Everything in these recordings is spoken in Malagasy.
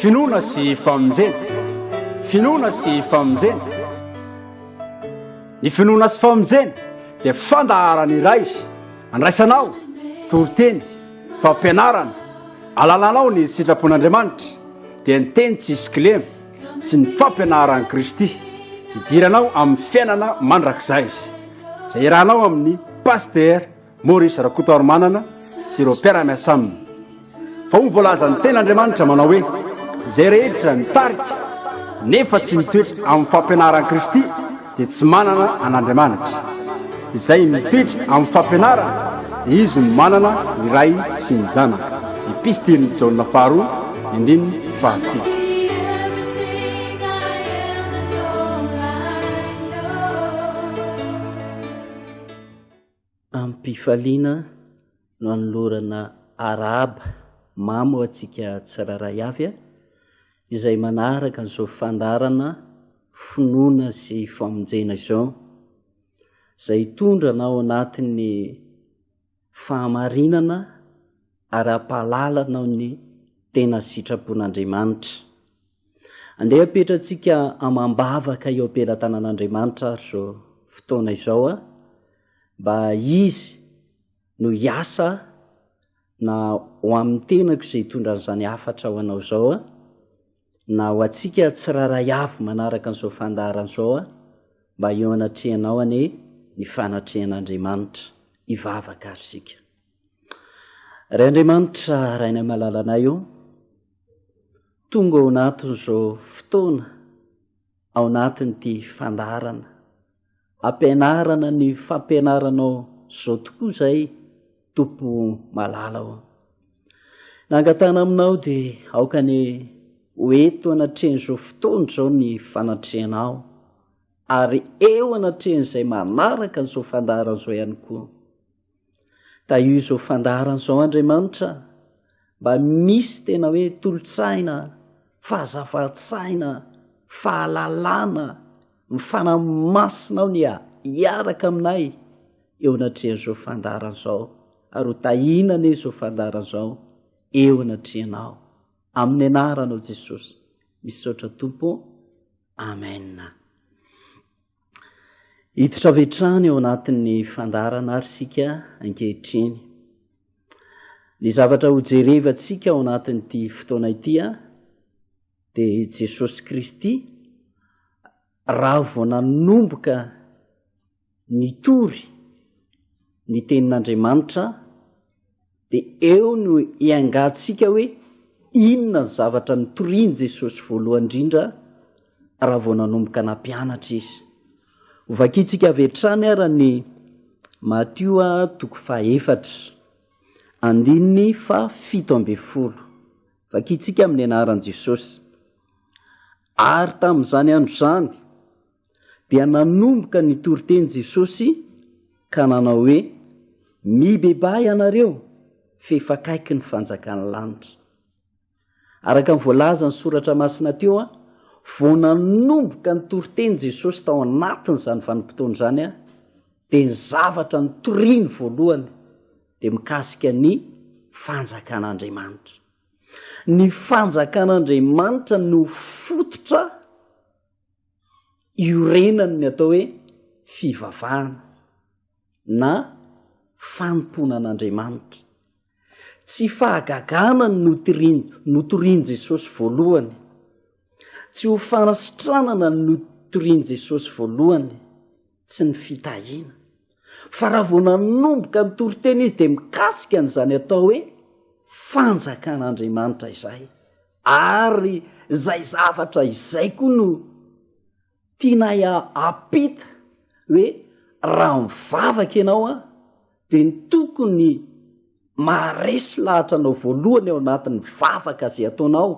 Finoana sy famonjena. Finoana sy famonjena. Ny finoana sy famonjena dia fandaharana iray andraisanao toriteny, fampianarana, alalanao ny sitrapon'Andriamanitra dia ny teny tsisy kilema sy ny fampianaran'i Kristy hidiranao amin'ny fiainana mandrakizay izay irahanao amin'ny pasitera Maurice Rakotoarimanana sy ireo mpiara-miasa aminy fa hoy ny voalazan'ny tena Andriamanitra manao hoe, izay rehetra mitarika nefa tsy mitoetra amin'ny fampianaran'i Kristy dia tsy manana an'Andriamanitra. Izay mitoetra amin'ny fampianarany dia izy no manana ny Ray sy ny Zanaka. Epistilin'i Jaona faharoa, andininy fahasivy. Amim-pifaliana no anolorana arahaba mamy ho antsika tsirairay avy izay manaraka an'izao fandaharana Finoana sy Famonjena izao, izay hitondra anao ao anatin'ny fahamarinana ary hampahalala anao ny tena sitrapon'Andriamanitra. Andeha apetratsika amam-bavaka eo am-pelatanan'Andriamanitra ary izao fotoana izao a, mba Izy no hiasa na ho amin'ny tenako izay hitondra an'izany hafatra ho anao izao a, na ho antsika tsirairay avy manaraka an'izao fandaharana izao a, mba eo anatrehanao anie ny fanatrehan'Andriamanitra, hivavaka ary isika. Ray Andriamanitra, Rainay malalanay ô, Tonga ao anatin'izao fotoana ao anatin'ity fandaharana ampianarana ny fampianaranao izao tokoa izay Tompo malala ô. Nangatana aminao dia aoka ny ho eto anatrehan'izao fotoana izao ny fanatrehanao ary eo anatrehan'izay manaraka an'izao fandaharana izao ihany koa. Tahio izao fandaharana izao Andriamanitra mba misy tena hoe tolotsaina, fahazavatsaina, fahalalana, mifanamasina ao ny hiaraka aminay eo anatrehan'izao fandaharana izao ary ho tahina anie izao fandaharana izao eo anatrehanao amin'ny anaranao Jesosy. Misaotra Tompo. Amen. Hiditra avy hatrany ao anatin'ny fandaharana àry isika ankehitriny. Ny zavatra hojerevantsika ao anatin'ity fotoana ity dia i Jesosy Kristy raha vao nanomboka nitory ny tenin'Andriamanitra Dia eo no iangahantsika hoe inona ny zavatra nitorian'i Jesosy voalohany indrindra raha vao nanomboka nampianatra Izy. Ho vakintsika avy hatrany ara ny Matio toko fahefatra, andininy fahafito ambin'ny folo. Vakintsika amin'ny anaran'i Jesosy. Ary tamin'izany andro izany, dia nanomboka nitory teny Jesosy ka nanao hoe, Mibebaha ianareo, f'efa akaiky ny fanjakan'ny lanitra. Araka ny voalazan'ny soratra masina teo, vao nanomboka nitory teny Jesosy tao anatin'izany vanim-potoana izany, dia ny zavatra nitoriany voalohany dia mikasika ny fanjakan'Andriamanitra. Ny fanjakan'Andriamanitra no fototra iorenany ny atao hoe fivavahana na fanompoana an'Andriamanitra. Tsy fahagagana ny notorin notorin'i Jesosy voalohany, tsy ho fanasitranana ny notorin'i Jesosy voalohany, tsy ny fitahiana, fa raha vao nanomboka nitory teny izy dia mikasika an'izany atao hoe fanjakan'Andriamanitra izay. Ary izay zavatra izay koa no tianay hampita hoe raha mivavaka ianao an, dia ny tokony maharesy lahatra anao voalohany ao anatin'ny vavaka izay ataonao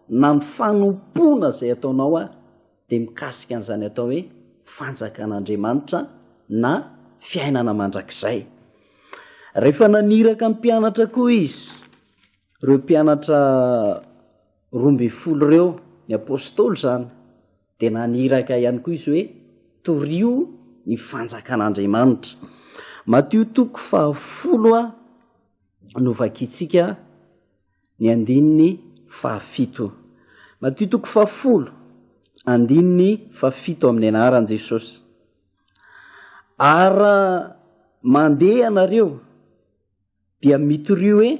na ny fanompoana izay ataonao an, dia mikasika an'izany atao hoe fanjakan'Andriamanitra na fiainana mandrakizay. Rehefa naniraka ny mpianatra koa izy. Ireo mpianatra roa ambin'ny folo ireo, ny apostoly izany, dia naniraka ihany koa izy hoe, Torio ny fanjakan'Andriamanitra. Matio toko fahafolo no vakintsika ny andininy fahafito. Matio toko fahafolo, andininy fahafito amin'ny anaran'i Jesosy. Ary mandeha ianareo dia mitoria hoe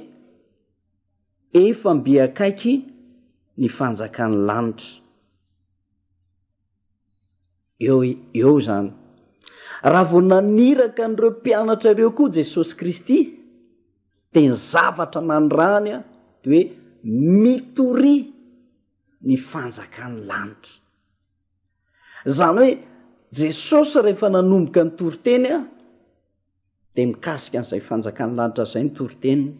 efa mby akaiky ny fanjakan'ny lanitra. Eo, eo izany. Raha vao naniraka an'ireo mpianatra ireo koa Jesosy Kristy, dia ny zavatra nanirany a de hoe mitoria ny fanjakan'ny lanitra. Izany hoe Jesosy rehefa nanomboka ny toriteny a, dia mikasika an'izay fanjakan'ny lanitra izay ny toriteniny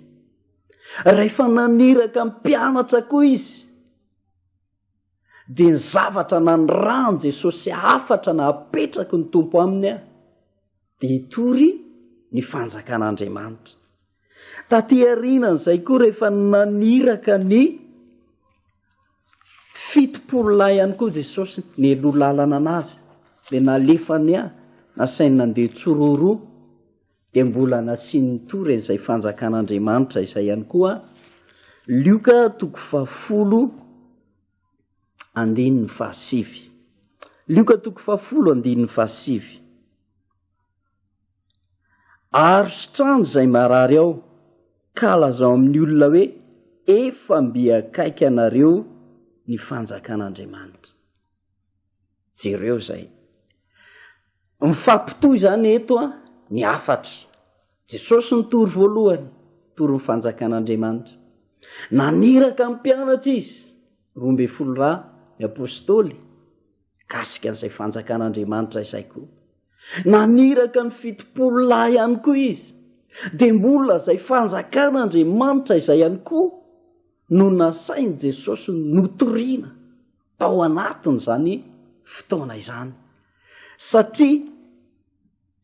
rehefa naniraka mpianatra koa izy dia ny zavatra nanirany jesosy hafatra na apetraky ny tompo aminy a dia hitory ny fanjakan'andriamanitra Taty aorianan'izay koa rehefa naniraka ny fitopolo lahy ihany koa Jesosy, nialoha lalana an'azy, dia nalefany ahy, nasainy nandeha tsororoa, dia mbola nasiany nitory an'izay fanjakan'Andriamanitra izay ihany koa aho. Lioka toko fahafolo andininy fahasivy. Lioka toko fahafolo andininy fahasivy. Arositrano izay marary ao ka lazao amin'ny olona hoe efa mby akaiky anareo ny fanjakan'Andriamanitra. Jereo izay. Mifampitohy izany eto ny hafatra. Jesosy nitory voalohany, nitory ny fanjakan'Andriamanitra. Naniraka ny mpianatra izy, roa ambin'ny folo ra ny apostoly, mikasika an'izay fanjakan'Andriamanitra izay koa. Naniraka ny fitopolo lahy ihany koa izy, dia mbola izay fanjakan'Andriamanitra izay ihany koa no nasain'i Jesosy notoriana tao anatin'izany fotoana izany, satria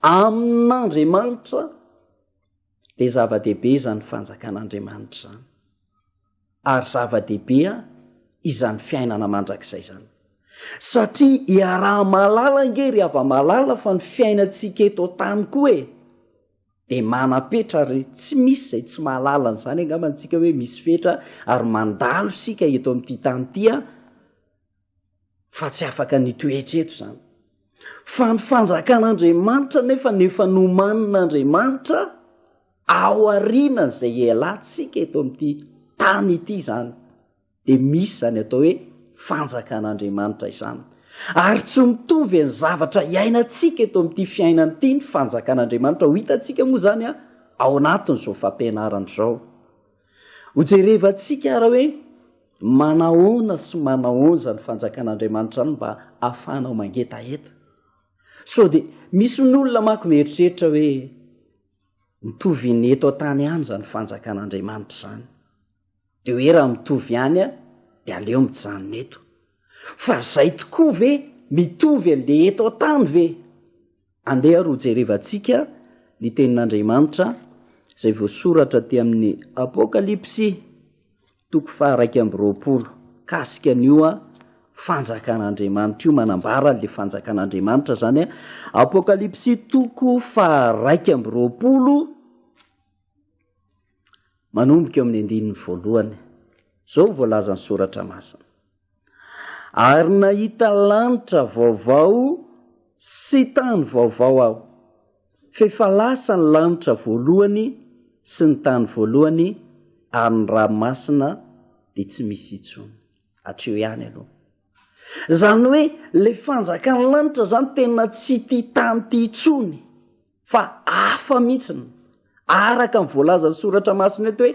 amin'Andriamanitra dia zava-dehibe izany fanjakan'Andriamanitra izany. Ary zava-dehibe izany fiainana mandrakizay izany. Satria iaraha-mahalala ange ry hava-malala fa ny fiainantsika eto an-tany koa e, dia manam-petra ary tsy misy izay tsy mahalala an'izany angamba antsika hoe misy fetra ary mandalo isika eto amin'ity tany ity an, fa tsy afaka ny toetra eto izany fa ny fanjakan'andriamanitra nefa ny efa nomanin'andriamanitra ao ariana izay elantsika eto amin'ity tany ity izany de misy izany atao hoe fanjakan'andriamanitra izany ary tsy mitovy any zavatra iainantsika eto amin'ity fiainany ity ny fanjakan'andriamanitra ho hitantsika moa izany a ao anatin'izao fampianarana izao Hojerevantsika ary hoe manahoana sy manahoanza ny fanjakan'Andriamanitra any mba ahafahanao mangetaheta. Sao dia misy ny olona manko mieritreritra hoe mitovy ny eto an-tany ihany izany fanjakan'Andriamanitra izany. Dia hoe raha mitovy ihany a, dia aleo mijanona eto. Fa izay tokoa ve mitovy an'ilay eto an-tany ve? Andeha ary hojerevantsika ny Tenin'Andriamanitra izay voasoratra aty amin'ny Apokalypsy toko faharaika amby roapolo mikasika an'io Fanjakan'Andriamanitra io, manambara an'ilay Fanjakan'Andriamanitra izany. Apokalypsy toko faharaika amby roapolo, manomboka eo amin'ny andininy voalohany. Izao voalazan'ny Soratra Masina. ary nahita lanitra vaovao sy tany vaovao aho, f'efa lasa ny lanitra voalohany sy ny tany voalohany ary ny ranomasina dia tsy misy intsony. Hatreo ihany aloha. Izany hoe ilay fanjakan'ny lanitra izany tena tsy ity tany ity intsony. fa hafa mihitsy ny araka ny voalazan'ny soratra masina eto hoe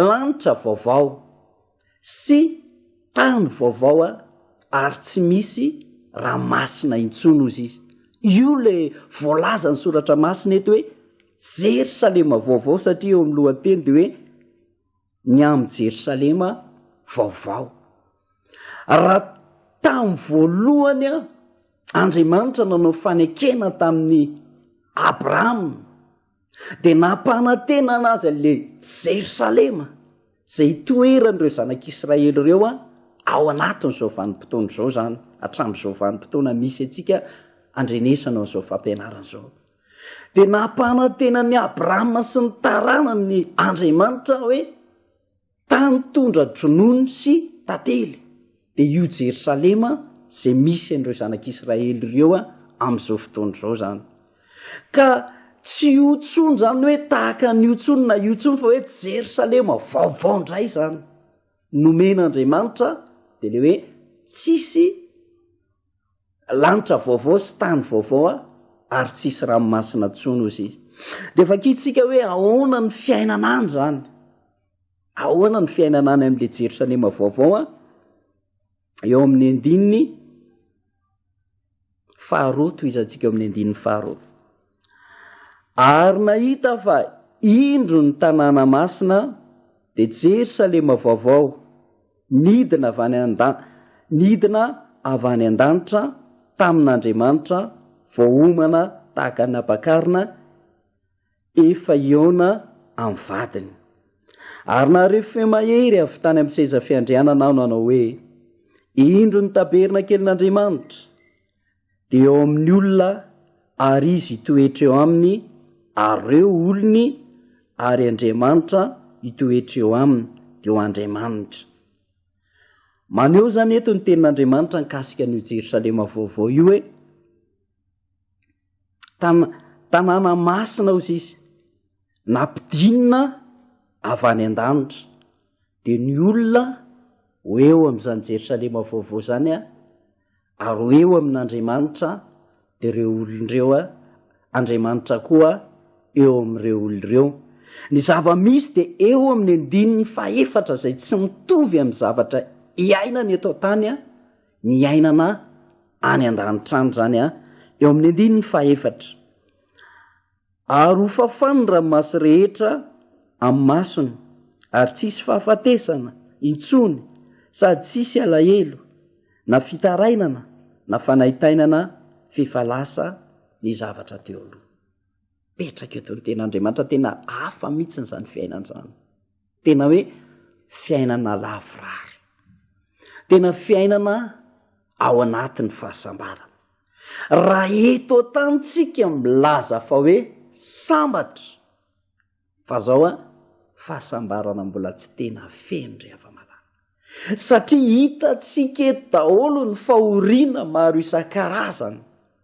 lanitra vaovao sy tany vaovao a ary tsy misy raha masina intsony ozy izy io le voalazan'ny soratra masina eto hoe jerysalema vaovao satria eo amin'ny lohateny de hoe ny amin'ny Jerosalema vaovao. Raha tamin'ny voalohany an, Andriamanitra nanao fanekena tamin'ny Abrahama, dia nampanantenana azy an'ilay Jerosalema, izay itoeran'ireo zanak'Israely ireo an, ao anatin'izao vanim-potoana izao izany, hatramin'izao vanim-potoana misy antsika andrenesana an'izao fampianarana izao. Dia nampanantena an'i Abrahama sy ny taranany Andriamanitra hoe, tany tondra-dronono sy tantely, dia io Jerosalema izay misy an'ireo zanak'Israely ireo amin'izao fotoana izao izany. Ka tsy io tsony izany hoe tahaka an'io tsony na io tsony fa hoe Jerosalema vaovao indray izany. Nomen'Andriamanitra dia le hoe tsisy Lanitra vaovao sy tany vaovao a, ary tsy hisy ranomasina intsony, hozy izy. Dia vakintsika hoe ahoana ny fiainana any izany. Ahoana ny fiainana any amin'ilay Jerosalema vaovao a, eo amin'ny andininy faharoa, tohizantsika eo amin'ny andininy faharoa. Ary nahita fa indro ny tanàna masina dia Jerosalema vaovao, nidina avy any an-da, nidina avy any an-danitra tamin'Andriamanitra, voaomana tahaka ny ampakarina efa hihaona amin'ny vadiny. Ary naharefo feo mahery avy tany amin'ny seza fiandrianana aho nanao hoe, Indro ny tabernakelin'Andriamanitra! dia eo amin'ny olona ary izy hitoetra eo aminy ary reo olony ary Andriamanitra hitoetra eo aminy dia ho Andriamanitra. Maneho izany eto ny tenin'Andriamanitra nikasika an'io Jerosalema vaovao io hoe tan tanàna masina hozy izy nampidinina avy any an-danitra dia ny olona ho eo amin'izany Jerosalema vaovao izany a ary ho eo amin'Andriamanitra ireo olona ireo, Andriamanitra koa eo amin'ireo olona ireo. Ny zava-misy dia eo amin'ny andininy fahefatra izay tsy mitovy amin'ny zavatra iainana eto an-tany ny iainana any an-danitra any izany eo amin'ny andininy fahefatra. Ary ho fafan' ny ranomasy rehetra amin'ny masony, ary tsy hisy fahafatesana intsony sady tsy hisy alahelo, na fitarainana, na fanaintainana, f'efa lasa ny zavatra teo aloha. Petraka eto ny Tenin'Andriamanitra, tena hafa mihitsy izany fiainana izany. Tena hoe fiainana lavorary. Tena fiainana ao anatin'ny fahasambarana. Raha eto an-tany tsika milaza fa hoe sambatra, fa zao an, fahasambarana mbola tsy tena feno ry hava-malala. satria hitantsika eto daholo ny fahoriana maro isan-karazany,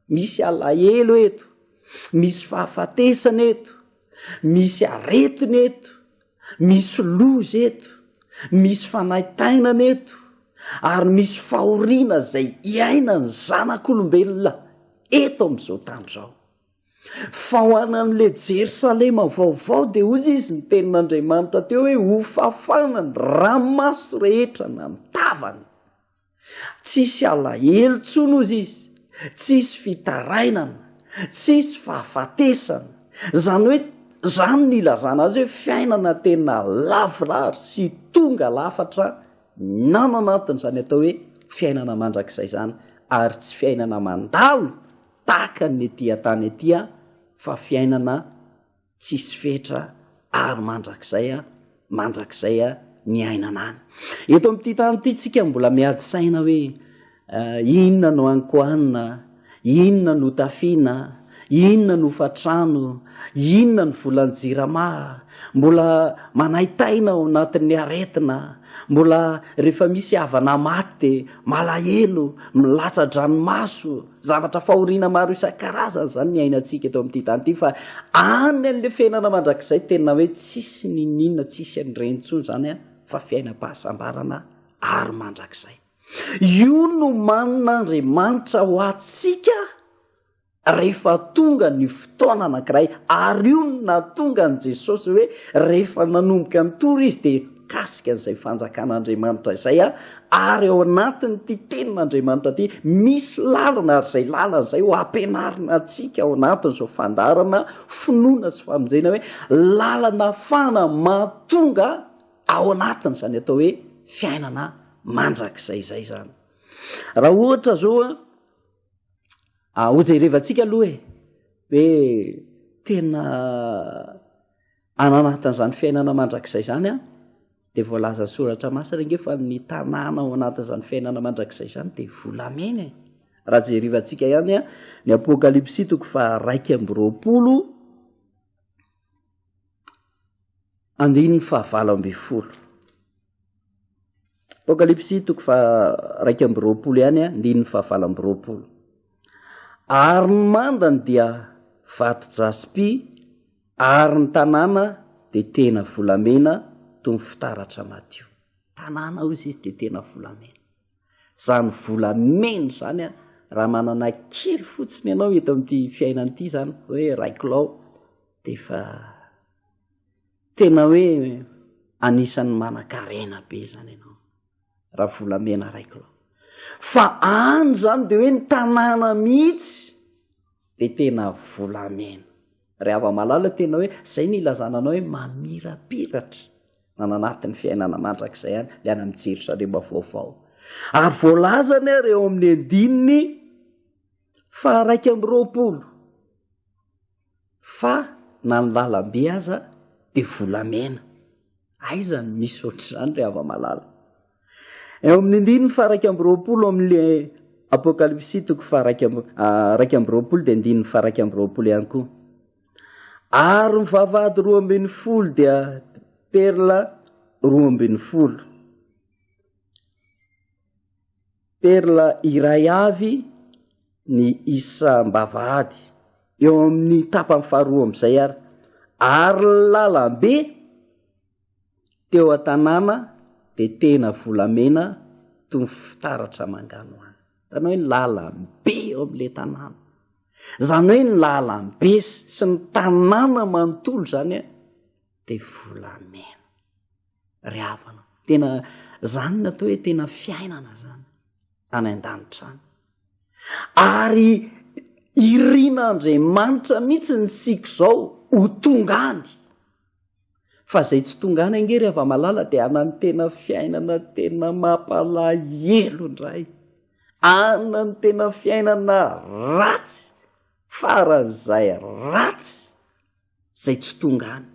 misy alahelo eto, misy fahafatesana eto, misy aretina eto, misy loza eto, misy fanaintainana eto, ary misy fahoriana izay iainan'ny zanak'olombelona eto amin'izao tany izao. Fa ho an'ilay Jerosalema vaovao, dia hoy Izy, ny tenin'Andriamanitra teo hoe, Hofafana ny ranomaso rehetra na ny tavany. Tsy hisy alahelo intsony, hoy Izy, tsy hisy fitarainana, tsy hisy fahafatesana. Izany hoe, izany no ilazana azy hoe fiainana tena lavorary sy tonga lafatra ny ao anatin'izany atao hoe fiainana mandrakizay izany, ary tsy fiainana mandalo. tahaka ny ety an-tany ety fa fiainana tsisy fetra ary mandrakizay mandrakizay ny ainana any. Eto amin'ity tany ity tsika mbola miady saina hoe inona no ankohanina, inona no tafiana, inona no fatrano, inona ny volan-jirama, mbola manaitaina ao anatin'ny aretina, Mbola rehefa misy havana maty dia malahelo, milatsa-dranomaso, zavatra fahoriana maro isan-karazany izany ny iainantsika eto amin'ity tany ity fa any an'ilay fiainana mandrakizay tena hoe tsisy niniana, tsisy an'ireny intsony izany an, fa fiainam-pahasambarana ary mandrakizay. Io nomanin'Andriamanitra ho antsika Rehefa tonga ny fotoana anankiray, ary io no nahatonga an'i Jesosy hoe rehefa nanomboka nitory Izy dia mikasika an'izay fanjakan'Andriamanitra izay aho, ary ao anatin'ity tenin'Andriamanitra ity misy lalana, ary izay lalana izay ho ampianarina antsika ao anatin'izao fandaharana Finoana sy Famonjena hoe lalana ahafahana mahatonga ao anatin'izany atao hoe fiainana mandrakizay izay izany. Raha ohatra izao an, Ah, hojerevantsika aloha e, hoe tena ananatin'izany fiainana mandrakizay izany a, dia voalazan'ny soratra masina ange fa ny tanàna ao anatin'izany fiainana mandrakizay izany dia volamena e. Raha jerevantsika ihany a, ny apokalypsy toko fa raiky amby roapolo andininy fahavalo amby folo. Apokalypsy toko faha-raika amby roapolo ihany, andininy fahavalo amby roapolo. Ary ny mandany dia vato jaspy, ary ny tanàna dia tena volamena toy ny fitaratra madio. Tanàna, hoy izy, dia tena volamena. Izany volamena izany, raha manana kely fotsiny ianao eto amin'ity fiainana ity izany, hoe raiko lao, dia efa. Tena hoe anisan'ny manan-karena be zany ianao raha volamena iray kilao. Fa any zany de hoe ny tanàna mihitsy de tena volamena. Ry hava-malala tena hoe zay ny ilazana anao hoe mamirapiratra na nanatin'ny fiainana mandrakizay any le any amin'ny Jerosalema vaovao. Ary voalazany ary eo amin'ny andininy faharaika amby roapolo. fa na ny lalambe aza dia volamena, aiza no misy ohatr'izany ry hava-malala? Eo amin'ny ndininy faha iraika amby roapolo ao amin'le Apokalypsy toko faha iraika amby ah, iraika amby roapolo dia ndininy faha iraika amby roapolo ihany koa. Ary ny vavahady roa ambin'ny folo dia perla roa ambin'ny folo. Perla iray avy ny isam-bavahady eo amin'ny tapany faharoa amin'izay ary, ary ny lalambe teo an-tanàna dia tena volamena toy ny fitaratra manganohano. Hitanao hoe ny lalambe eo amin'ilay tanàna, izany hoe ny lalambe sy ny tanàna manontolo izany dia volamena. ry havana tena zany ny atao hoe tena fiainana zany any an-danitra any ary irina andriamanitra mihitsy ny siko zao ho tonga any fa zay tsy tonga any ange ry havamalala de anany tena fiainana tena mampalahelo indray anany tena fiainana ratsy faran'izay ratsy izay tsy tonga any.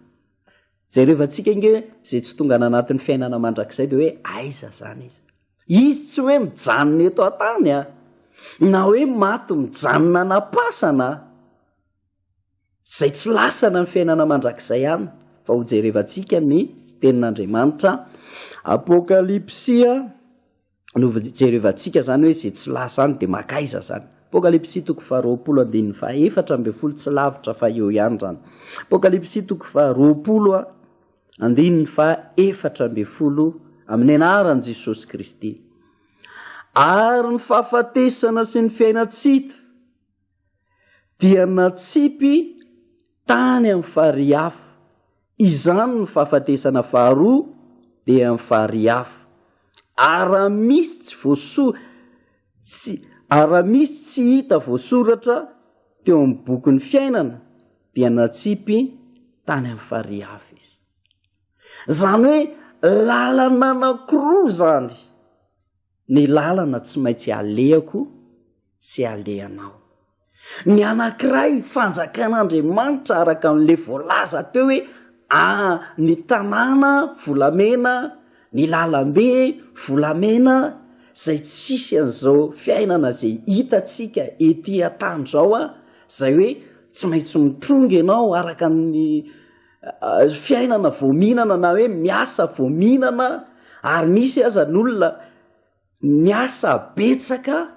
Jerevantsika ange hoe izay tsy tonga any anatin'ny fiainana mandrakizay dia hoe aiza izany izy. Izy tsy hoe mijanona eto an-tany a, na hoe maty mijanona anam-pasana a. Izay tsy lasana ny fiainana mandrakizay any fa ho jerevantsika ny tenin'Andriamanitra. Apokalypsy a. no jerevantsika zany hoe ze tsy lasa any de makaiza zany. Apokalypsy toko faha roapolo andininy faha efatra ambin'ny folo tsy lavitra fa eo ihany zany. Apokalypsy toko faha roapolo a andininy faha efatra ambin'ny folo amin'ny anaran'i Jesosy Kristy. Ary ny fahafatesana sy ny fiainantsita dia natsipy tany amin'ny farihy hafa. Izany ny fahafatesana faharoa dia amin'ny farihy hafa. Ary raha misy tsy voaso- tsy, ary raha misy tsy hita voasoratra teo amin'ny bokin'ny fiainana dia natsipy tany amin'ny farihy hafa izy. Izany hoe lalana anankiroa izany. Ny lalana tsy maintsy alehako sy alehanao. Ny anankiray, fanjakan'Andriamanitra araka an'ilay voalaza teo hoe ah, ny tanàna volamena, ny lalambe volamena, izay tsisy an'izao fiainana izay hitantsika ety an-tany izao an, izay hoe tsy maintsy mitrongy ianao araka ny. fiainana vao mihinana na hoe miasa vao mihinana ary misy aza ny olona miasa betsaka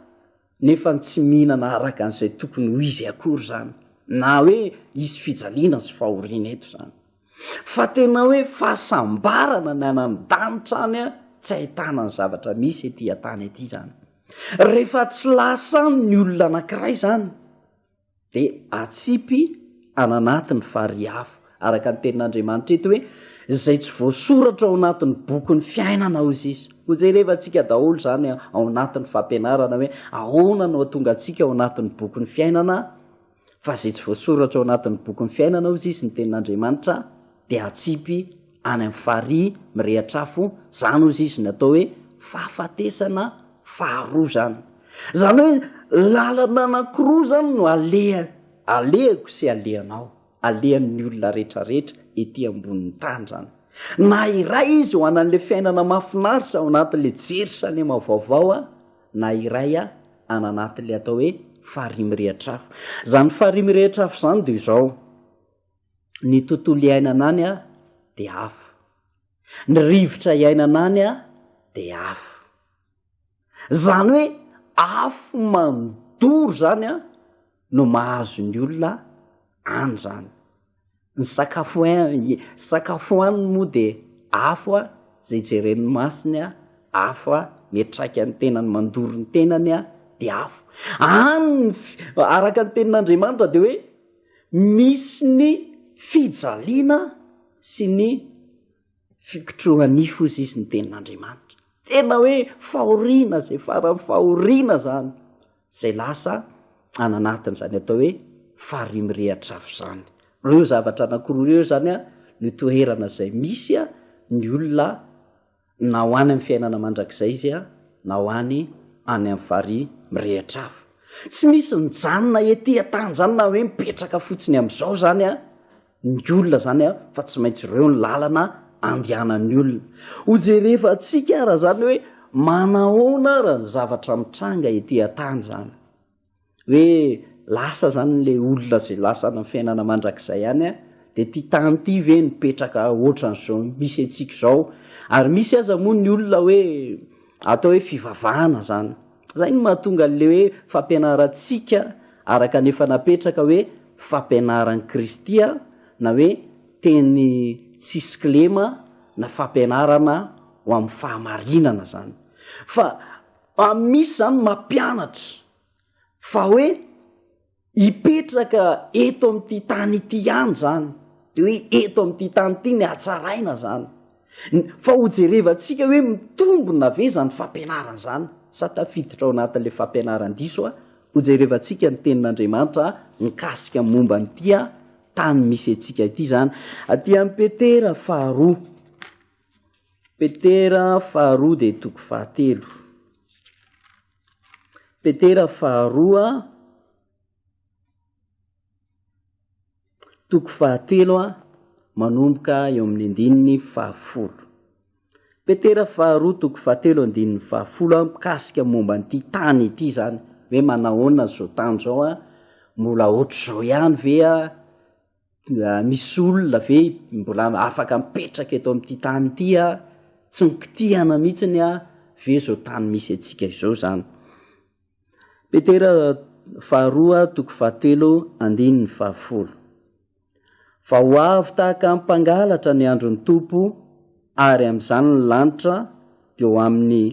nefa ny tsy mihinana araka an'izay tokony ho izy akory zany na hoe hisy fijaliana sy fahoriana eto zany fa tena hoe fahasambarana ny anany danitra any a tsy ahitana ny zavatra misy ety atany ety zany rehefa tsy lasa any ny olona anankiray zany dia atsipy any anatiny fa ry afo, araka ny tenin'Andriamanitra eto hoe, izay tsy voasoratra ao anatin'ny bokin'ny fiainana ao izy. Ho jerevantsika daholo izany ao anatin'ny fampianarana hoe ahoana no hatonga antsika ao anatin'ny bokin'ny fiainana fa izay tsy voasoratra ao anatin'ny bokin'ny fiainana ao izy ny tenin'Andriamanitra dia atsipy any amin'ny farihy mirehatra afo, izany hozy izy no atao hoe fahafatesana faharoa izany. Izany hoe lalana anankiroa izany no aleha, alehako sy alehanao, alehan'ny olona rehetrarehetra ety ambonin'ny tany izany. Na iray izy ho anan'ilay fiainana mahafinaritra ao anatin'ilay Jerosalema vaovao, na iray any anatin'ilay atao hoe farihy mirehatra afo. Izany farihy mirehitra afo izany dia izao, ny tontolo iainana any a de afo ny rivotra iainana any a de afo zany hoe afo manodoro zany a no mahazo ny olona any zany ny sakafo e sakafo any moa de afo a zay jeren'ny masiny a afo a mitraika ny tenany mandoro ny tenany a de afo any ny araka ny tenin'andriamanitra de hoe misy ny fijaliana sy ny fikotrohanifo izy izy ny tenin'andriamanitra tena hoe fahoriana zay faran'ny fahoriana zany zay lasa ananatin' zany atao hoe farimirehatra avy zany reo zavatra anakoroa reo zany a no toherana zay misy a ny olona na ho any amin'ny fiainana mandrakizay izy na ho any any amin'ny farihy mirehitra hafa. Tsy misy mijanona ety an-tany izany na hoe mipetraka fotsiny amin'izao izany ny olona izany fa tsy maintsy ireo ny lalana andehanan'ny olona. Hojerevantsika ary izany hoe manahoana ary ny zavatra mitranga ety an-tany izany. hoe lasa zany le olona zay lasa any am fiainana mandrakizay any an, de ty tany ty ve nipetraka otran'zao misy antsika zao, ary misy aza moa ny olona hoe atao hoe fivavahana zany, zay no mahatonga anle hoe fampianarantsika araka ny efa napetraka hoe fampianaran'i kristy an, na hoe teny tsisy kilema na fampianarana ho am fahamarinana zany fa Fa misy izany mampianatra fa hoe hipetraka eto amin'ity tany ity ihany izany, dia hoe eto amin'ity tany ity ny hatsaraina izany. Fa hojerevantsika hoe mitombina ve izany fampianarana izany sa tafiditra ao anatin'ilay fampianaran-diso aho. Hojerevantsika ny Tenin'Andriamanitra mikasika ny momba an'ity tany misy antsika ity izany. Aty amin'ny Petera faharoa. Petera faharoa dia toko fahatelo. Petera faharoa toko fahatelo a manomboka eo amin'ny andininy fahafolo. Petera faharoa toko fahatelo andininy fahafolo a mikasika momba an'ity tany ity zany hoe manahoana zao tany zao a mbola ohatr'izao ihany ve a Misy olona ve mbola afaka mipetraka eto amin'ity tany ity an? Tsy mikitihana mihitsy an? Ve izao tany misy antsika izao izany? Petera faharoa toko fahatelo andininy fahafolo. Fa ho avy tahaka ny mpangalatra ny andron'ny Tompo, ary amin'izany ny lanitra dia ho amin'ny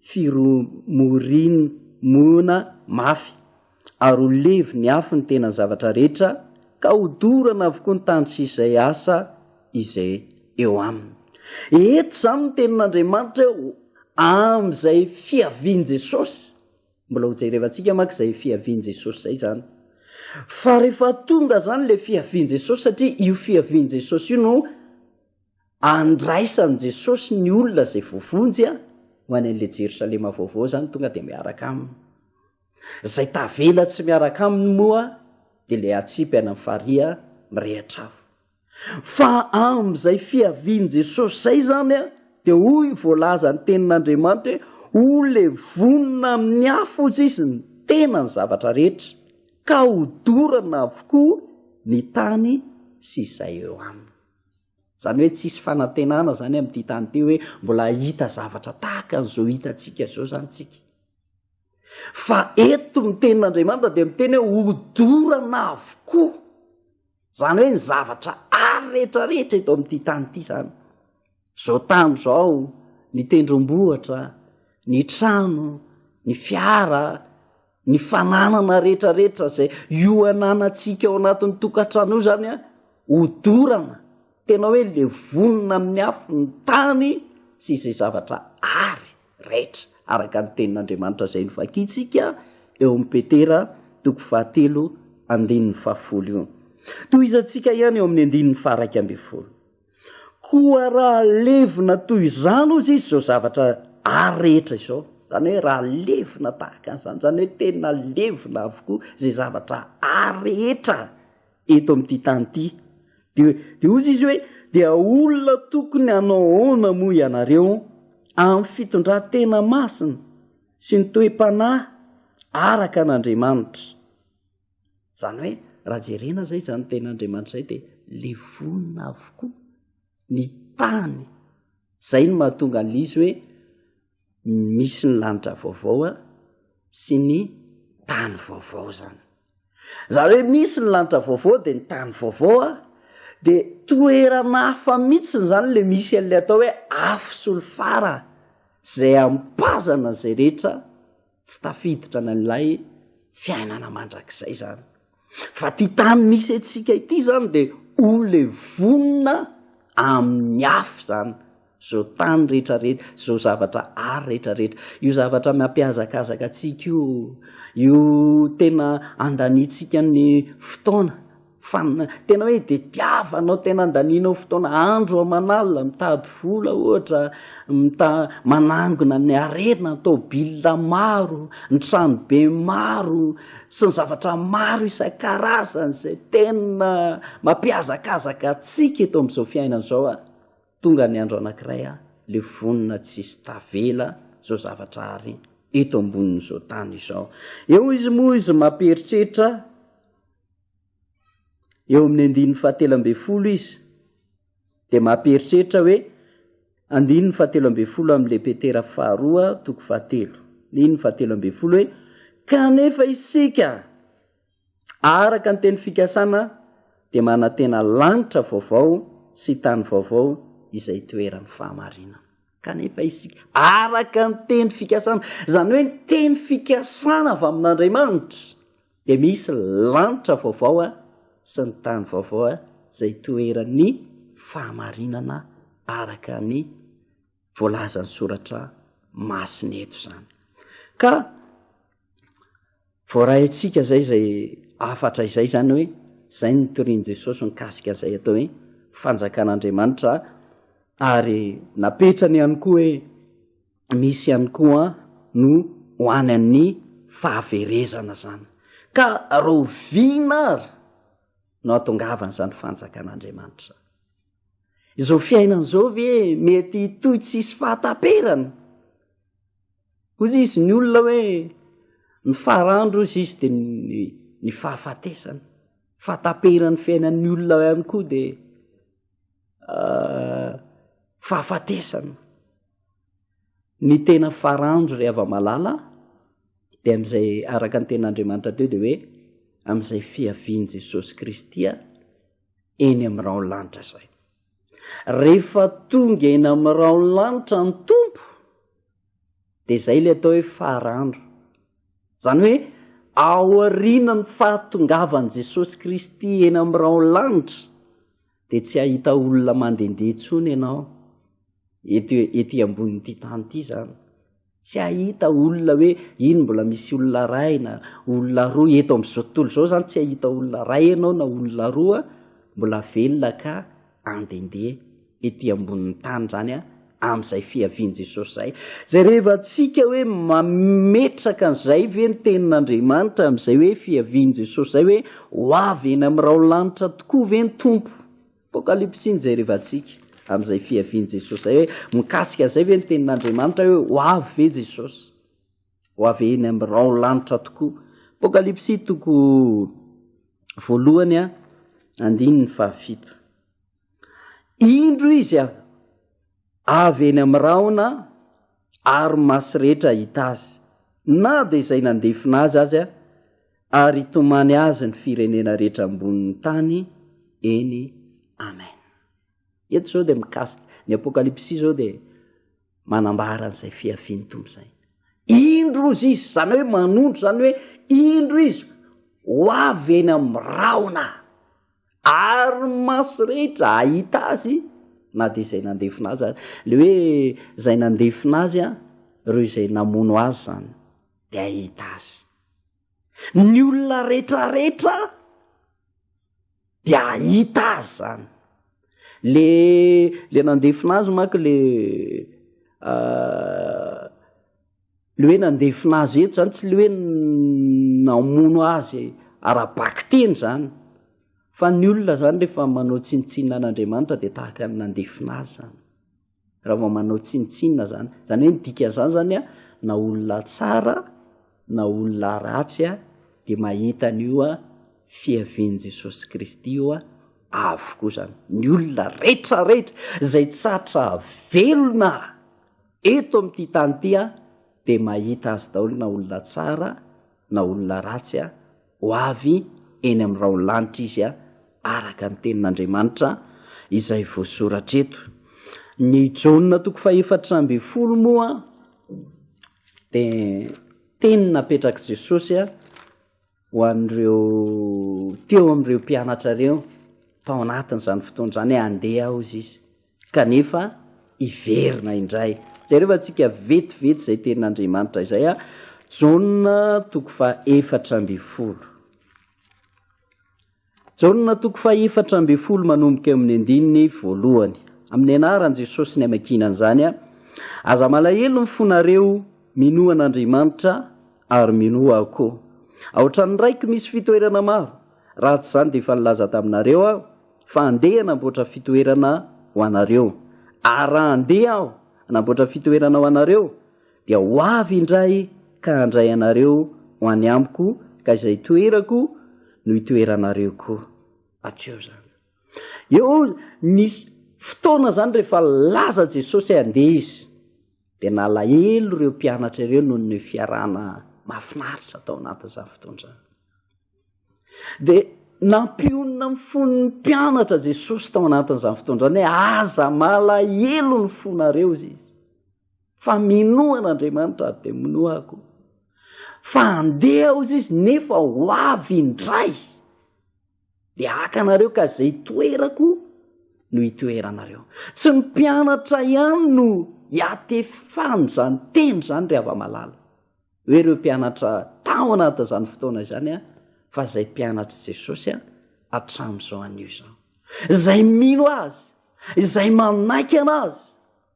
firomorimona mafy. ary ho levy ny afo ny tenan'ny zavatra rehetra, ka hodorana avokoa ny tany sy izay asa izay eo aminy. Eto izany ny tenin'Andriamanitra eo amin'izay fiavian'i Jesosy. Mbola hojerevantsika manko izay fiavian'i Jesosy izay izany. Fa rehefa tonga izany ilay fiavian'i Jesosy, satria io fiavian'i Jesosy io no andraisan'i Jesosy ny olona izay voavonjy ho any an'ilay Jerosalema vaovao izany, tonga dia miaraka aminy. Zay tavela tsy miaraka aminy moa de le atsipy any am fariha mirehatra avo. Fa am zay fiavian Jesosy zay zany a de hoy voalazan tenin Andriamanitra hoe ho le vonona amin ny afo ozy izy ny tena ny zavatra rehetra ka ho dorana avokoa ny tany sy zay eo aminy. Izany hoe tsisy fanantenana izany amin'ity tany ity hoe mbola hahita zavatra tahaka an'izao hitantsika izao izany tsika. Fa eto ny tenin'Andriamanitra dia miteny hoe hodorana avokoa. Izany hoe ny zavatra ary rehetrarehetra eto amin'ity tany ity izany. Izao tany izao, ny tendrombohitra, ny trano, ny fiara, Ny fananana rehetrarehetra izay ioananantsika ao anatin'ny tokantrano io izany a, hodorana, tena hoe levonina amin'ny afo ny tany sy izay zavatra ary raitra, araka ny tenin'Andriamanitra izay novakintsika eo amin'ny Petera toko fahatelo andininy fahafolo io. Tohizantsika ihany eo amin'ny andininy faharaika ambin'ny folo. Koa raha levona toy izany hozy izy izao zavatra ary rehetra izao, izany hoe raha levona tahaka an'izany, izany hoe tena levona avokoa izay zavatra ary rehetra eto amin'ity tany ity, dia dia hozy izy hoe, dia olona tokony hanao ahoana moa ianareo amin'ny fitondran-tena masina sy ny toe-panahy araka an'Andriamanitra? Izany hoe raha jerena izay izany tenin'Andriamanitra izay dia levona avokoa ny tany. Izay no mahatonga an'izy hoe misy ny lanitra vaovao a sy ny tany vaovao izany. Izany hoe misy ny lanitra vaovao dia ny tany vaovao a dia toerana hafa mihitsiny izany ilay misy an'ilay atao hoe afo solifara izay ampazana izay rehetra. tsy tafiditra an'ilay fiainana mandrakizay zany fa ty tany misy antsika ity zany de ho le vonona amin'ny afo zany zao tany rehetrarehetra zao zavatra ary rehetrarehetra io zavatra mampiazakazaka antsika io io tena andanitsika ny fotoana Fa ny tena hoe tetiavanao, tena andanianao fotoana andro aman'alina mitady vola ohatra, mita- manangona ny harena, ny tômôbila maro, ny tranobe maro sy ny zavatra maro isan-karazany izay tena mampihazakazaka antsika eto amin'izao fiainana izao a! Tonga ny andro anankiray a, le vonona tsisy tavela izao zavatra ary eto ambonin'izao tany izao. Eo izy moa izy mampieritreritra. eo amin'ny andininy fahatelo ambin'ny folo izy dia mampieritreritra hoe andininy fahatelo ambin'ny folo amin'le petera faharoa toko fahatelo niny fahatelo ambin'ny folo hoe kanefa isika araka ny teny fikasana dia manantena lanitra vaovao sy tany vaovao izay toeran'ny fahamarinana kanefa isika araka ny teny fikasana izany hoe ny teny fikasana avy amin'andriamanitra Dia misy lanitra vaovao sy ny tany vaovao izay hitoeran'ny fahamarinana araka ny voalazan'ny soratra masina eto izany. Ka voaray antsika izay izay afatra izay izany hoe izay ny torian'i Jesosy mikasika izay atao hoe fanjakan'Andriamanitra ary napetrany ihany koa hoe misy ihany koa no ho any amin'ny fahaverezana izany. Ka rahoviana ary no hahatongavana izany fanjakan'Andriamanitra izany? Izao fiainana izao ve mety hitohy tsy hisy fahataperana? Hoy izy ny olona hoe ny farandro hoy izy dia ny, ny fahafatesana. Fahataperan'ny fiainan'ny olona ihany koa dia uh, fahafatesana. ny tena faranjo ry hava-malala dia amin'izay araka ny ten'Andriamanitra teo dia hoe amin'izay fiavian'i Jesosy Kristy eny amin'ny raon'ny lanitra izay. Rehefa tonga eny amin'ny raon'ny lanitra ny tompo dia izay ilay atao hoe faranjo. Izany hoe aorianan'ny fahatongavan'i Jesosy Kristy eny amin'ny raon'ny lanitra dia tsy hahita olona mandehandeha intsony ianao, eto ety ambonin'ity tany ity izany. Tsy hahita olona hoe iny mbola misy olona iray na olona roa, eto amin'izao tontolo izao izany tsy hahita olona iray ianao na olona roa mbola velona ka handehandeha ety ambonin'ny tany izany an. amin'izay fiavian'i Jesosy izay. Jereva antsika hoe mametraka an'izay ve ny tenin'Andriamanitra amin'izay hoe fiavian'i Jesosy izay hoe ho avy eny amin'ny raolanitra tokoa ve ny tompo. Apokalypsy iny jereva antsika amin'izay fiavian'i Jesosy izay hoe mikasika an'izay ve ny tenin'Andriamanitra hoe ho avy ve Jesosy. Ho avy eny amin'ny raolanitra tokoa. Apokalypsy toko voalohany a andininy fahafito. Indro izy avy eny amin'ny rahona ary maso rehetra hahita azy, na dia izay nandefona azy aza, ary hitomany azy ny firenena rehetra ambonin'ny tany eny Amen. Eto izao dia mikasika, ny Apokalypsy izao dia manambara an'izay fiavian'ny Tompo izay. Indro izy, izany hoe manondro izany hoe indro izy ho avy eny amin'ny rahona. Ary ny maso rehetra hahita azy na dia izay nandefona azy aza. Ilay hoe izay nandefona azy an, ireo izay namono azy izany dia hahita azy. Ny olona retraretra dia hahita azy izany. Le le nandefona azy manko le ah, Ny hoe nandefona azy eto izany tsy le hoe namono azy ara-bakiteny izany, fa ny olona izany rehefa manao tsinontsinona an'Andriamanitra dia tahaka ny nandefona azy izany, raha vao manao tsinontsinona izany. Izany hoe ny dikan'izany izany an, na olona tsara na olona ratsy an, dia mahita an'io an, fiavian'i Jesosy Kristy io an, avokoa izany. Ny olona rehetra rehetra izay tsy hatra velona. Eto amin'ity tany ity aho dia mahita azy daholo na olona tsara na olona ratsy aho, ho avy eny amin'ny raholanitra izy aho araka ny tenin'Andriamanitra izay voasoratra eto. Ny Jaona toko fahefatra ambin'ny folo moa dia teny napetrak'i Jesosy aho, ho an'ireo teo amin'ireo mpianatra ireo tao anatin'izany fotoana izany hoe handeha hozy izy kanefa hiverina indray. Jereo fa tsika vetivety izay tenin'Andriamanitra izay a Jaona toko fa efatra ambin'ny folo. Jaona toko fahefatra ambin'ny folo manomboka eo amin'ny andininy voalohany. Amin'ny anaran'i Jesosy ny hamakiana an'izany, Aza malahelo ny fonareo, minoa an'Andriamanitra ary minoa aho koa. Ao an-tranon'ny Raiko misy fitoerana maro, raha tsy izany dia efa nilaza taminareo aho fa andeha hanamboatra fitoerana ho anareo. Ary raha andeha aho hanamboatra fitoerana ho anareo, Dia ho avy indray ka handray anareo ho any amiko, ka izay toerako no hitoeranareo koa. Hatreo izany. Eo ny fotoana izany rehefa nilaza Jesosy hoe handeha izy, dia nalahelo ireo mpianatra ireo noho ny fiarahana mahafinaritra tao anatin'izany fotoana izany. Dia nampionona ny fon'ny mpianatra Jesosy tao anatin'izany fotoana izany hoe aza malahelo ny fonareo, hoy izy. fa minoa an'Andriamanitra ary dia minoa ahy koa fa andeha aho izy izy nefa ho avy indray dia haka anareo ka izay toerako no hitoeranareo tsy ny mpianatra ihany no hiatefany izany teny izany ry hava-malala hoe ireo mpianatra tao anatin'izany fotoana izany a fa izay mpianatr'i jesosy a hatramin'izao anio izany izay mino azy izay manaiky ana azy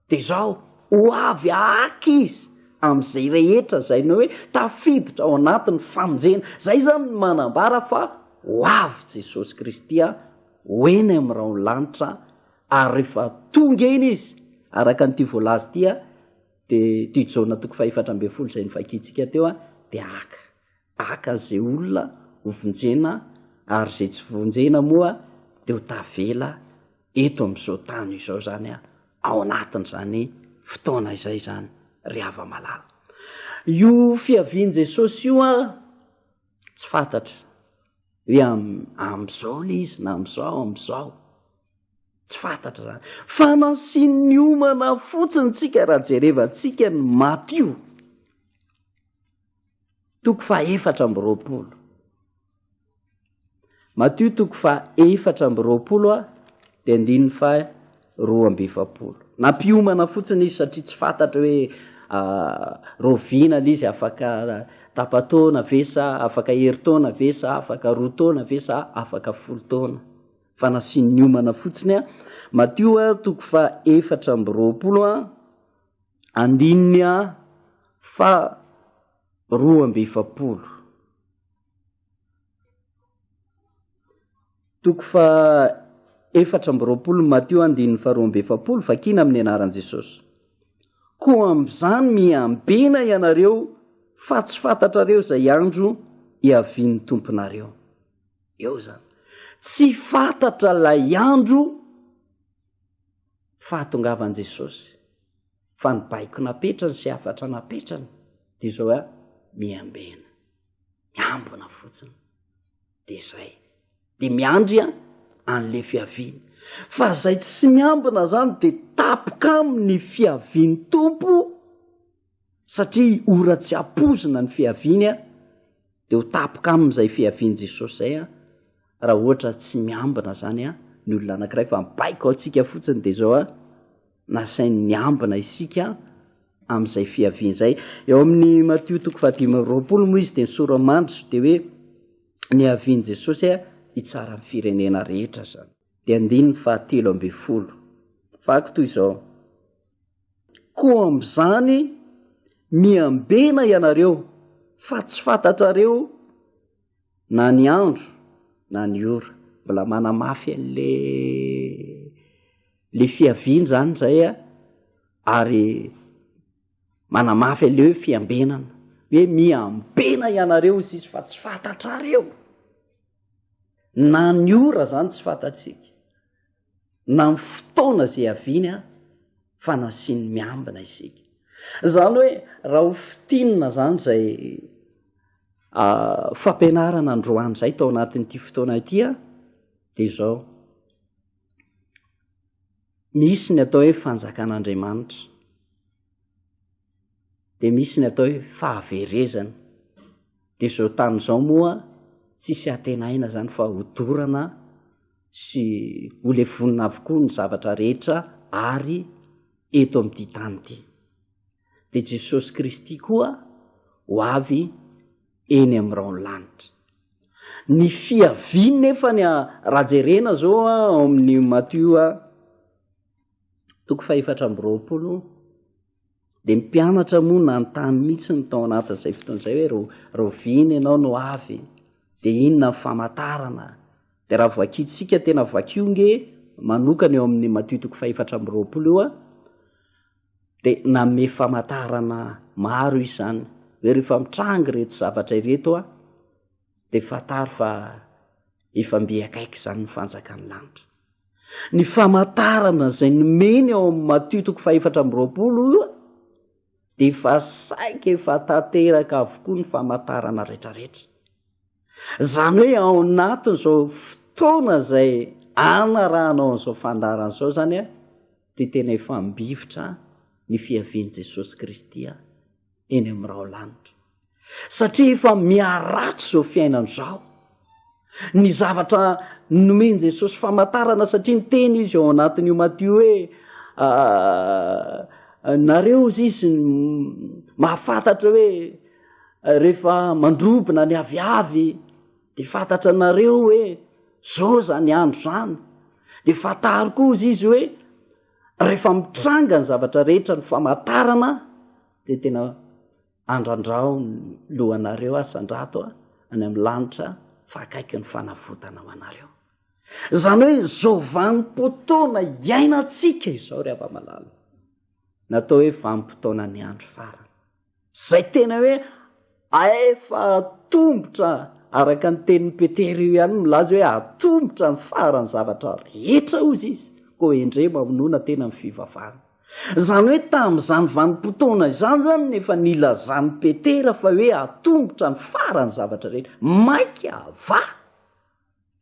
Dia izao, ho avy aky Izy amin'izay rehetra izay ny hoe tafiditra ao anatin'ny famonjena. Izay izany no manambara fa ho avy Jesosy Kristy ho eny amin'ny rahon'ny lanitra, ary rehefa tonga eny Izy, araka an'ity voalaza ity, dia ity Jaona toko fahefatra ambin'ny folo izay novakiantsika teo, dia haka, haka an'izay olona hovonjena, ary izay tsy vonjena moa dia ho tavela. eto amin'izao tany izao izany a ao anatin' izany fotoana izay izany ry hava malala io fiavian'i jesosy io a tsy fantatra hoe am'izao le izy na am'izao am'izao tsy fantatra izany fa nansin'ny omana fotsiny tsika raha jerevantsika ny matio toko fa efatra amby roapolo Matio toko faha-efatra amby roapolo a dia andininy faha-roa amby efapolo. Nampiomana fotsiny izy satria tsy fantatra hoe rahoviana ilay izy, afaka tapa-taona ve sa afaka herintaona ve sa afaka roa taona ve sa afaka folo taona. Fa nasiany niomana fotsiny an. Matio a, toko faha-efatra amby roapolo a, andininy a faha-roa amby efapolo. Toko fahaefatra amby roapolo ny Matio andininy faharoa amby efapolo, vakina amin'ny anaran'i Jesosy. Koa amin'izany miambena ianareo fa tsy fantatrareo izay andro iavian'ny tomponareo. Eo izany. Tsy fantatra ilay andro fahatongavan'i Jesosy. fa ny baiko napetrany sy hafatra napetrany de izao hoe miambena miambina fotsiny de zay de miandry a an'le fiaviany fa zay tsy miambina zany de tapoka aminy fiaviany tompo satria ora tsy ampozina ny fiaviany a Dia ho tapoka aminy izay fiavian'i Jesosy izay an, raha ohatra tsy miambina izany an, ny olona anankiray fa ny baiko antsika fotsiny dia izao an, nasainy niambina isika an, amin'izay fiaviany izay. Eo amin'ny Matio toko fahadimy amby roapolo moa izy dia ny sora-mandry dia hoe ny havian'i Jesosy an, hitsara ny firenena rehetra izany. dia andininy fahatelo ambin'ny folo. Vaky toy izao, Koa amin'izany miambena ianareo fa tsy fantatrareo na ny andro na ny ora. Mbola manamafy an'le le fiaviany zany izay a, ary manamafy an'le hoe fiambenana, hoe miambena ianareo izy izy fa tsy fantatrareo. na ny ora zany tsy fantatsika na ny fotoana zay haviany a fa nasiany miambina isika zany hoe raha ho fitinina zany zay ah, fampianarana androany zay tao anatin'ity fotoana ity a de zao misy ny atao hoe fanjakan'andriamanitra dia misy ny atao hoe fahaverezana dia izao tany izao moa tsisy antenaina zany fa hodorana sy holevonina avokoa ny zavatra rehetra ary eto amin'ity tany ity dia jesosy kristy koa ho avy eny amin'irao ny lanitra ny fiaviany nefa ny raha jerena zao a ao amin'ny matioa toko fahefatra ambyroapolo Dia ny mpianatra moa nanontany mihitsy ny tao anatin'izay fotoana izay hoe ro, roviana ianao no avy? Dia inona ny famantarana? Dia raha vakintsika tena vakio nge manokana eo amin'ny Matio toko fahefatra amby roapolo io a, dia nanome famantarana maro izany hoe rehefa mitrangy ireto zavatra ireto a, dia fantaro fa efa mby akaiky izany ny fanjakan'ny lanitra ny famantarana izay nomeny ao amin'ny matio toko fahefatra ambyroapolo io dia efa saika efa tanteraka avokoa ny famantarana retraretra izany hoe ao anatin' izao fotoana izay anarahana ao an'izao fandarana izao izany a dia tena efa mbivitra ny fiavian'i jesosy kristy a eny amin'ny raolanitra satria efa miharatsy izao fiainana izao ny zavatra nomen' jesosy famantarana satria ny teny izy ao anatin'io maty hoe ah, nareo izy izy mahafantatra hoe rehefa mandrobina ny aviavy de fantatra anareo hoe zao zany andro zany de fantaro koa izy izy hoe Rehefa mitranga ny zavatra rehetra ny famatarana dia tena andrandrao ny lohanareo aho sandrato a any amin'ny lanitra fa akaiky ny fanavotana ho anareo izany hoe zao vanimpotoana iainantsika izao ry hava-malala natao hoe vanimpotoana ny andro farany Zay tena hoe aefa atombotra araka ny tenin'i Petera io ihany milaza hoe atombotra ny faran'ny zavatra rehetra hozy izy koa hendre mamonona tena amin'ny fivavahana. Izany hoe tamin'izany vanim-potoana izany izany no efa nilazan'i Petera fa hoe atombotra ny faran'ny zavatra rehetra. Maika avà!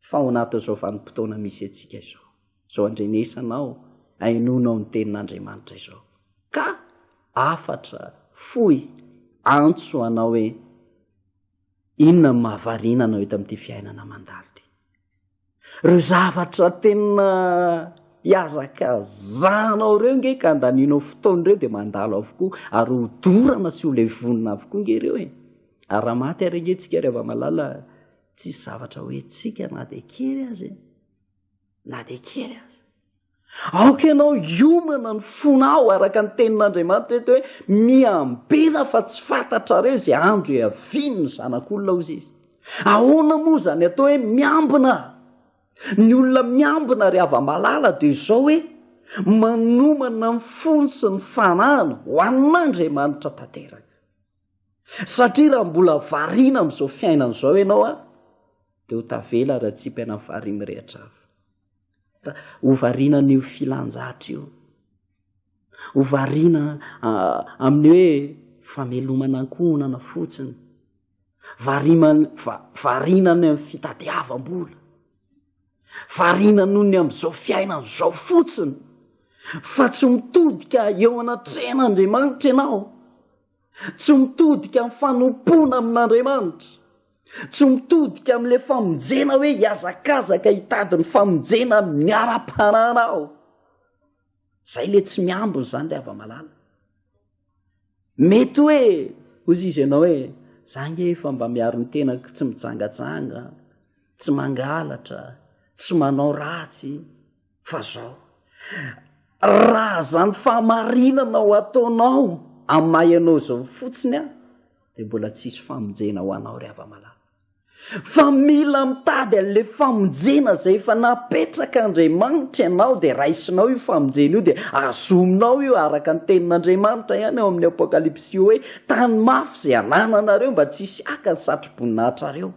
fa ao anatin'izao vanim-potoana misy antsika izao, izao andrenesanao, ahenonao ny tenin'Andriamanitra izao, ka afatra, fohy, antso anao hoe inona ny mahavariana anao eto amin'ity fiainana mandalo ity. Ireo zavatra tena hiazakazanao ireo nge ka andanianao fotoana ireo dia mandalo avokoa ary ho dorana sy ho levonina avokoa nge ireo e. Ary raha maty ary ange tsika ry hava malala, Tsisy zavatra ho entsika na dia kely aza e! Na dia kely aza. Aoka ianao hiomana ny fonao araka ny tenin'Andriamanitra eto hoe miambena fa tsy fantatrareo izay andro hiavian'ny zanak'olona hozy izy. Ahoana moa izany atao hoe miambina? Ny olona miambina ary hava-malala dia izao hoe manomana ny fony sy ny fanahiny ho an'Andriamanitra tanteraka. Satria raha mbola variana amin'izao fiainana izao ianao an, dia ho tavela raha tsy hipaina ny faharian'ny mirehitra avy. Ho variana an'io filan-jatra io. Ho variana amin'ny hoe famelomana ankohonana fotsiny. Variana any amin'ny fitadiavam-bola. Variana noho ny amin'izao fiainana izao fotsiny. Fa tsy mitodika eo anatrehan'Andriamanitra ianao. tsy mitodika amin'ny fanompoana amin'Andriamanitra, tsy mitodika amin'ilay famonjena hoe hiazakazaka hitady ny famonjena miara-panana aho. Izay ilay tsy miambina izany ilay hava-malala. Mety hoe, hozy izy ianao hoe, za nge efa mba miaro ny tenako tsy mijangajanga, tsy mangalatra, tsy manao ratsy, fa zao raha zany famarinana ho ataonao amy maha ianao zao fotsiny a de mbola tsisy famonjena ho anao ry avamalala fa mila mitady an'le famonjena zay efa napetraka andriamanitra ianao de raisinao io famonjena io de azominao io araka ny tenin'andriamanitra ihany ao amin'ny apokalipsy io hoe tany mafy zay anananareo mba tsisy haka ny satroboninahitra reo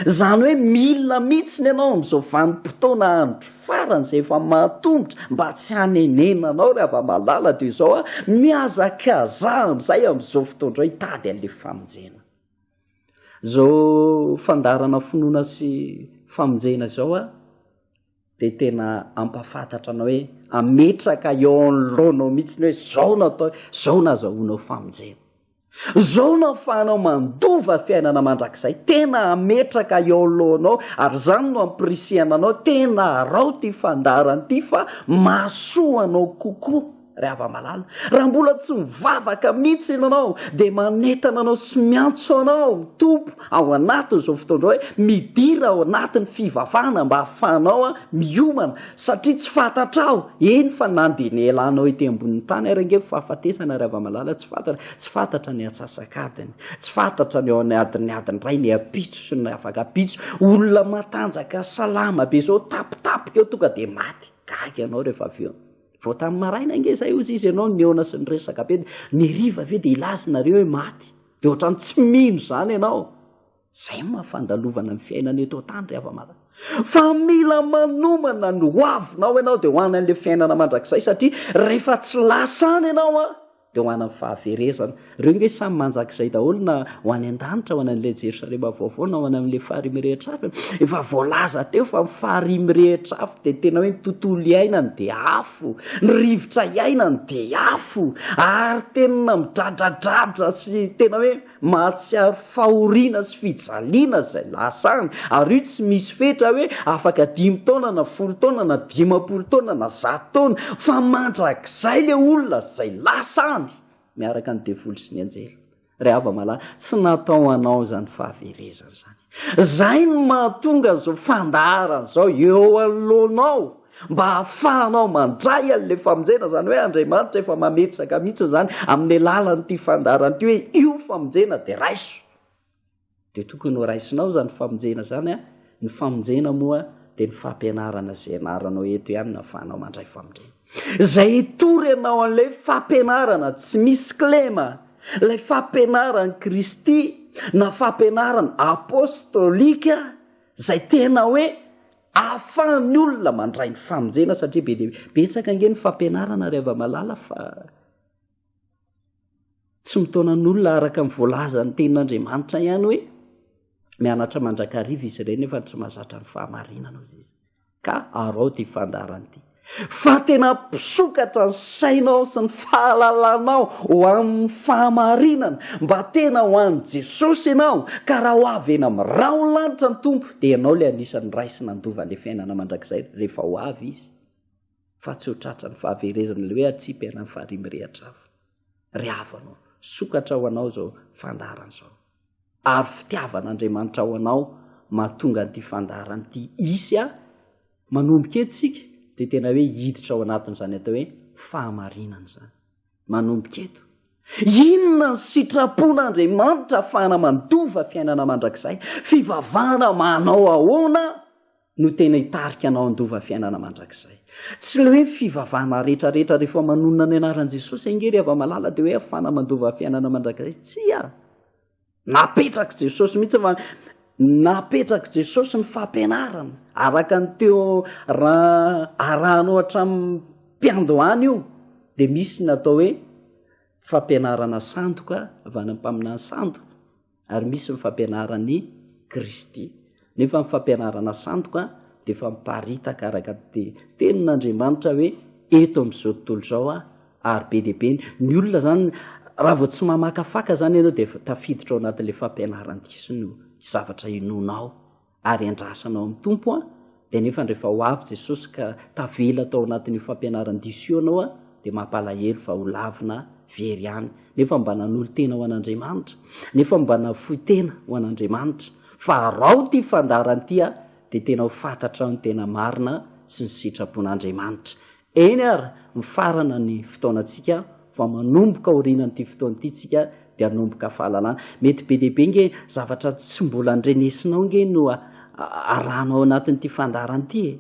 Izany hoe mila mihitsiny ianao amin'izao vanim-potoana andro farany izay efa mahatomotra mba tsy hanenena anao ry hava-malala dia izao a, mihazakazaha amin'izay amin'izao fotoana izao hitady an'ilay famonjena. Izao fandaharana finoana sy famonjena izao a. dia tena hampafantatra anao hoe hametraka eo anoloanao mihitsy ny hoe zao no atao zao no azahoanao famonjena zao no afahanao mandova fiainana mandrakizay tena hametraka eo anoloanao ary izany no ampirisihana anao tena arao ty fandaharana ity fa mahasoa anao kokoa Ravamalala, raha mbola tsy mivavaka mihitsy ianao dia manentana anao sy miantso anao ny Tompo ao anatin'izao fotoana izao hoe midira ao anatin'ny fivavahana mba hahafahanao miomana satria tsy fantatrao eny fa na dia ny elanao ety ambonin'ny tany ary ange fahafatesana Ravamalala tsy fantatra tsy fantatra ny atsasakadiny tsy fantatra ny ao anatin'ny adin'ny ray ny ampitso sy ny afakapitso olona matanjaka salama be izao tapitapika eo tonga dia maty gaga ianao rehefa avy eo Vao tamin'ny maraina ange izay hozy izy ianao nihaona sy niresaka be dia ny hariva ve dia hilaza nareo hoe maty? Dia ohatran'ny tsy mino izany ianao. Izay moa fandalovana ny fiainana eto an-tany ry hava-mara. Fa mila manomana ny hoavinao ianao dia ho any an'ilay fiainana mandrakizay satria rehefa tsy lasa any ianao an! dia ho an'ny fahaverezana. Ireo ange samy manjak'izay daholo na ho any an-danitra, ho any an'ilay Jerosalema vaovao na ho any amin'ilay fahariam rehetra avy. Efa voalaza teo fa ny fahariam rehetra avy dia tena hoe ny tontolo iainany dia afo, ny rivotra iainany dia afo ary tena midradradradra sy tena hoe Mahatsiaro fahoriana sy fijaliana izay lasany, ary io tsy misy fetra hoe afaka dimy taona na folo taona na dimampolo taona na zato taona, fa mandrakizay ilay olona izay lasany miaraka ny devoly sy ny anjely. Ry hava malala, tsy natao ho anao izany fahaverezana izany. Izay no mahatonga izao fandaharana izao eo anoloanao mba hahafahanao mandray an'ilay famonjena, izany hoe Andriamanitra efa mametsaka mihitsy izany amin'ny alalan'ity fandaharana ity hoe io famonjena dia raiso. Dia tokony ho raisinao izany famonjena izany an, ny famonjena moa dia ny fampianarana izay ianaranao eto ihany no ahafahanao mandray famonjena. Izay hitory ianao an'ilay fampianarana tsy misy kilema, ilay fampianaran'i Kristy na fampianarana apostolika izay tena hoe ahafahan'ny olona mandray ny famonjena satria be dia betsaka ange ny fampianarana ry hava-malala fa Tsy mitaona ny olona araka ny voalazan'ny tenin'Andriamanitra ihany hoe mianatra mandrakariva izy ireny nefa tsy mazatra ny fahamarinana ozy izy. Ka arao ty fandaharana ity. Fa tena mpisokatra ny sainao sy ny fahalalanao ho amin'ny fahamarinana mba tena ho an'i Jesosy ianao ka raha ho avy eny amin'ny rahon'ny lanitra ny Tompo dia ianao ilay anisan'ny ray sy nandova ilay fiainana mandrakizay rehefa ho avy izy. fa tsy ho tratran'ny fahaverezana ilay hoe atsipy ianao ny faharian'ny mirehatra avy. Ry havanao, sokatra ho anao izao fandaharana izao. Ary fitiavan'Andriamanitra ho anao mahatonga an'ity fandaharana ity hisy aho, manomboka eto isika dia tena hoe hiditra ao anatin'izany atao hoe fahamarinana izany. manomboka eto. Inona ny sitrapon'Andriamanitra afahana mandova fiainana mandrakizay? Fivavahana manao ahoana no tena hitarika anao handova fiainana mandrakizay? Tsy ilay hoe fivavahana rehetra rehetra rehefa manonona ny anaran'i Jesosy ange ry hava-malala dia hoe afahana mandova fiainana mandrakizay. Tsia! Napetrak'i Jesosy mihitsy fa napetrak'i Jesosy ny fampianarana araka ny teo raha arahanao hatramin'ny mpiandohany io de misy ny atao hoe fampianarana sandoka avy any am-paminany sandoka ary misy ny fampianaran'i Kristy. Nefa ny fampianarana sandoka dia efa miparitaka araka ny tenin' Andriamanitra hoe eto amin' izao tontolo izao aho ary be dia be ny olona izany raha vao tsy mamakafaka izany ianao dia tafiditra ao anatin' ilay fampianaran diso ny zavatra hinoanao ary andrasanao amin' ny Tompo an dia nefa rehefa ho avy Jesosy ka tavela tao anatin' io fampianaran diso io ianao dia mampalahelo fa ho lavina very any nefa mba nanolo tena ho an' Andriamanitra nefa mba nafoy tena ho an' Andriamanitra Fa arao ty fandaharany ty a de tena ho fatatrao ny tena marina sy ny sitrapon'Andriamanitra. Eny ary mifarana ny fotoanantsika fa manomboka aorianan'ity fotoana ity tsika de hanomboka fahalalana. Mety be dia be nge zavatra tsy mbola ndrenesinao nge no arahanao anatin'ity fandaharana ity e.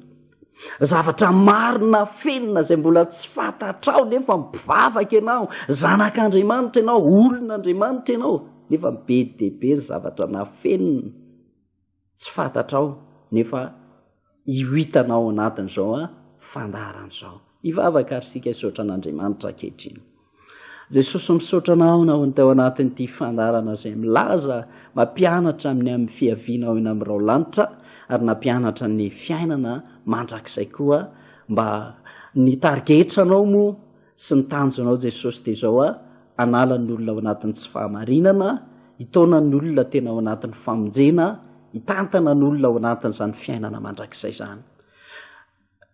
Zavatra marina fenina izay mbola tsy fantatrao nefa mpivavaka ianao, zanak'Andriamanitra ianao, olon'Andriamanitra ianao nefa be dia be ny zavatra nafenina tsy fantatrao nefa io hitanao anatin'izao fandaharan'izao. Hivavaka ary isika hisaotra an'Andriamanitra ankehitriny. Jesosy misaotra anao nahoany tao anatin ity fandarana izay milaza mampianatra amin'ny amin'ny fiaviana ao eny amin'ny rao lanitra ary nampianatra ny fiainana mandrakizay koa mba ny tarigetranao moa sy ny tanjonao Jesosy dia izao a anala ny olona ao anatin'ny tsy fahamarinana hitaona ny olona tena ao anatin'ny famonjena hitantana ny olona ao anatin'izany fiainana mandrakizay izany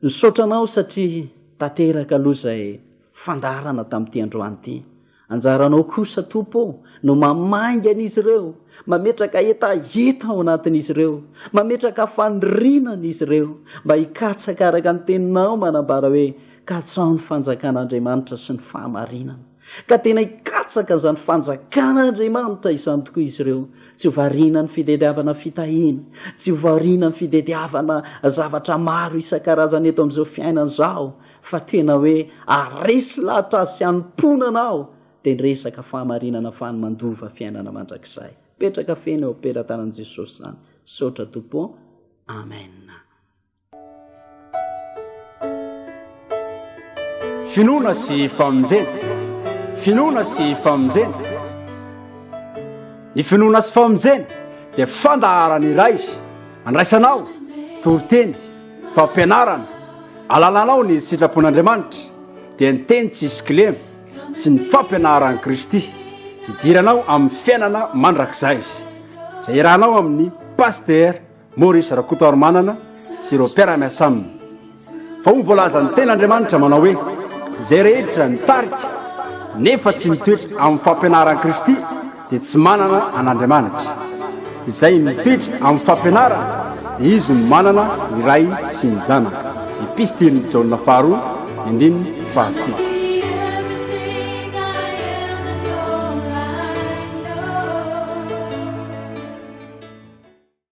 Misaotra anao satria tanteraka aloha izay fandaharana tamin'ity androany ity. Anjaranao kosa Tompo ô no mamaingana izy ireo, mametraka hetaheta ao anatin'izy ireo, mametraka fanirinana izy ireo mba hikatsaka araka ny teninao manambara hoe katsaho ny fanjakan'Andriamanitra sy ny fahamarinana. Ka tena hikatsaka izany fanjakan'Andriamanitra izany tokoa izy ireo. Tsy ho variana ny fitediavana fitahiana, tsy ho variana ny fitediavana zavatra maro isan-karazany eto amin'izao fiainana izao, fa tena hoe aresy lahatra azy sy hanomponana aho, dia ny resaka fahamarinana fa ny mandova fiainana mandrakizay. Petraka feno eo am-pelatanan'i Jesosy izany. Misaotra Tompo ô. Amen. Finoana sy famonjena. Finoana sy famonjena. Ny finoana sy famonjena dia fandaharana iray andraisanao toriteny, fampianarana, alalanao ny sitrapon'Andriamanitra dia ny teny tsisy kilema sy ny fampianaran'i Kristy idiranao amin'ny fiainana mandrakizay izay irahanao amin'ny pasitera Maurice Rakotoarimanana sy ireo mpiara-miasa aminy fa hoy ny voalazan'ny tena Andriamanitra manao hoe, izay rehetra mitarika nefa tsy mitoetra amin'ny fampianaran'i Kristy dia tsy manana an'Andriamanitra. Izay mitoetra amin'ny fampianarany dia izy no manana ny Ray sy ny Zanaka. Epistilin'i Jaona faharoa, andininy fahasivy.